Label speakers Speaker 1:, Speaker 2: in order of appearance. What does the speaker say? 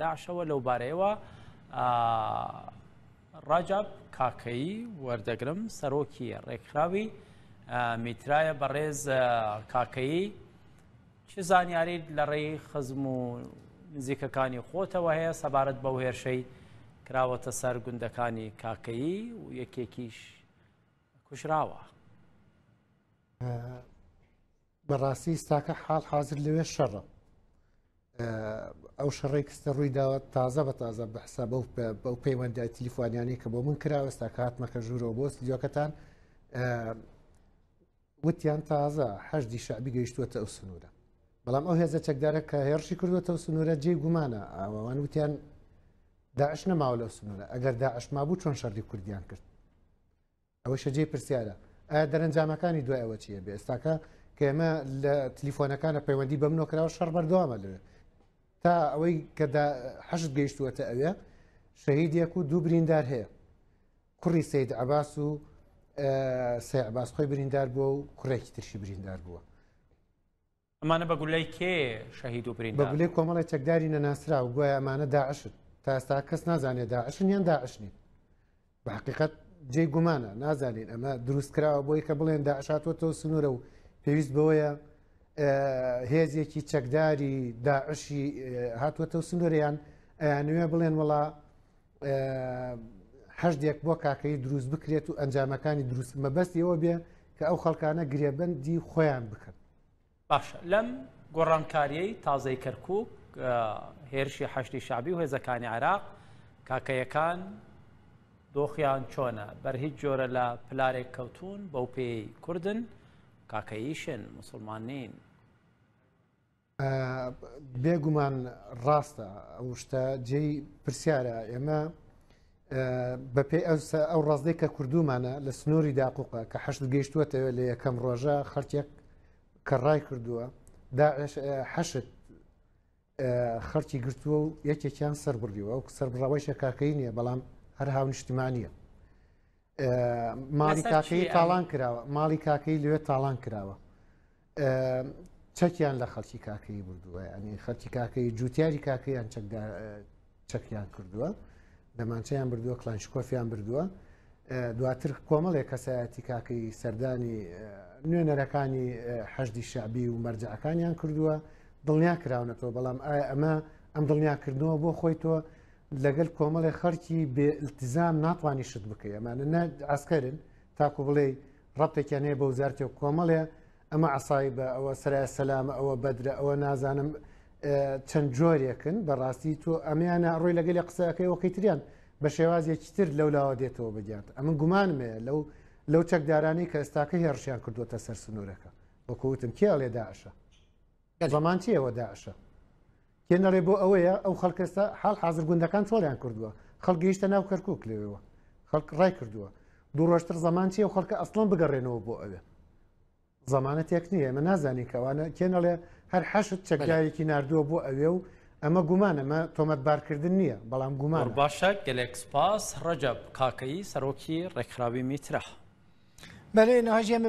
Speaker 1: داعشەوە لەو بارەیەوە ڕاجاب کاکەیی وەردەگرم سەرۆکی ڕێکخراوی میترایە بەڕێز کاکەیی چ زانیاریت لە ڕێی خزم و نزیکەکانی خۆتەوە هەیە سەبارەت بەو هێرشەی کراوەتە سەر گوندەکانی کاکەیی و یەکێکیش کوژراوە
Speaker 2: بەڕاستی ئستاکە حال حاضر لەوێ شەڕە ئەو شەڕێک کستە ڕووی داوە تازە بە تازە بەحسا بەو بەو پەیوەندای تلیفۆنیانی کە بۆ من کراوەستا کاتمەکە ژوورەوە بۆ سلیۆکەتان وتیان تازە هەشتی شعبی گەیشتووەتە ئەو سنوورە بەڵام ئەو هێزە چەکدارە کە هێرشی کردوەتە و سنوورە جێ گومانە ئاوان وتیان داعش نەماوە لەو سنوورە ئەگەر داعش مابوو چۆن شەڕی کوردیان کرد ئەوەشە جێی پرسیارە ئایا دەرەنجامەکانی دوای ئەوە چیە بێ ئێستاکە کە ئێمە لە تلیفۆنەکانە پەیوەندی بە منۆ کراوە شەڕ بەردەوامە لەوێ تا ئەوەی کە حەشت گەیشتووەتە ئەوێ شەهیدێک و دوو بریندار هەیە کوڕی سید عباس و سێ عباس خۆی بریندار بووە و کوڕێکی ترشی بریندار بووە
Speaker 1: ئەمانە بە گولەی کێ شەهید و بریندار بە گولەی بوون؟ کۆمەڵی چەکداری
Speaker 2: نەناسراو گوایە ئەمانە داعشن تا ئێستا کەس نازانێت داعشن یان داعش نین بە حقیقت جێی گومانە نازانین ئەمە دروست کراوە بۆی کە بڵێن داعشاتوەتەوە سنوورە و پێویست بەوەیە هێزێکی چەکداری داعشی هاتووەتەوە سنووریان ئەیانوێ بڵێن وڵا هەشتێک بۆ کاکەی دروست بکرێت و ئەنجامەکانی دروست مەبەست ئەوە بێ کە ئەو خەڵکانە گرێبندی خۆیان بکەن باشە
Speaker 1: لەم گۆڕانکاریەی تازەی کەرکک هێرشی حەشتی شابی و هێزەکانی عراق کاکەیەکان دۆخیان چۆنە بەر هیچ جۆرە لە پلارێک کەوتون بەو پێی کوردن کاکەیشن مسلمان نین
Speaker 2: بێگومان ڕاستە ئەو شتە جێی پرسیارە ئێمە بەپێی ئەو ڕازدەی کە کردومانە لە سنووری داقوقە کە حەشت گەیشتووەتەوە لە یەکەم ڕۆژە خەرچێک کە ڕای کردووە حەشت خەرچی گرتووە و یەکێکیان سەر بڕیوە و سەر بڕەوەی شەکاکەی نییە بەڵام هەر هاونیشتمانە ماڵی کاکەی تاڵان کراوە ماڵی کاکەی لەوێ تاڵان کراوە چەکیان لە خەڵکی کاکەی بردووە ئەنی خەڵکی کاکەی جوتیاری کاکەیان چەکیان کردووە دەمانچەیان بردووە کلانشکۆفیان بردووە دواتر کۆمەڵێک کەسایەتی کاکەی سەردانی نوێنەرەکانی حەشدی شعبی و مەرجەکانیان کردووە دڵنیا کراونەتەوە بەڵام ئایا ئەمە ئەم دڵنیاکردنەوە بۆ خۆی تۆ لەگەل کۆمەڵی خەڵکی بێ التزام ناتوانانی شت بکە ئەمانە ئاسکەرن تاکو بڵێ ڕەبتێکیان هەیە بەو زارتێ و کۆمەڵێ ئەمە عسای بە ئەوە سرای سەلامە ئەوە بەدرە ئەوە نازانم چەند جۆرێکن بەڕاستی تۆ ئەمیانە ڕۆی لەگەلی قسەکەی وەکەی تریان بە شێوازێکی تر لەو لاوە دێتەوە بگات ئەمە گومانمێ لەو لەو چەکدارانی کە ئێستاکە هێڕشیان کردوتە سەر سنوورەکە وەکوتم کێڵێ داعشە زەمان چیە وە داعشە کێ نەڵێ بۆ ئەوەیە ئەو خەڵک ئێستا حاڵ حاضر گوندەکان چۆڵیان کردووە خەڵگەیشتە ناو کەرکک لێەوە خەڵک ڕای کردووە دوو ڕۆشتر زەمان چیە و خەڵکە ئەسڵم بگەڕێنەوە بۆ ئەوێ زمانە تێک نییە ئەمە نازانین کەوانە کێنەڵێ هەر حەشت چەکداوێکی نردووە بۆ ئەوێ و ئەمە گومان ئەمە تۆمەت بارکردن نییە بەڵام گومان باشە گەلێک
Speaker 1: سپاس ڕەجەب کاکەی سەرۆکی ڕێکخراوی
Speaker 3: میترا بەێ
Speaker 1: نهژێمە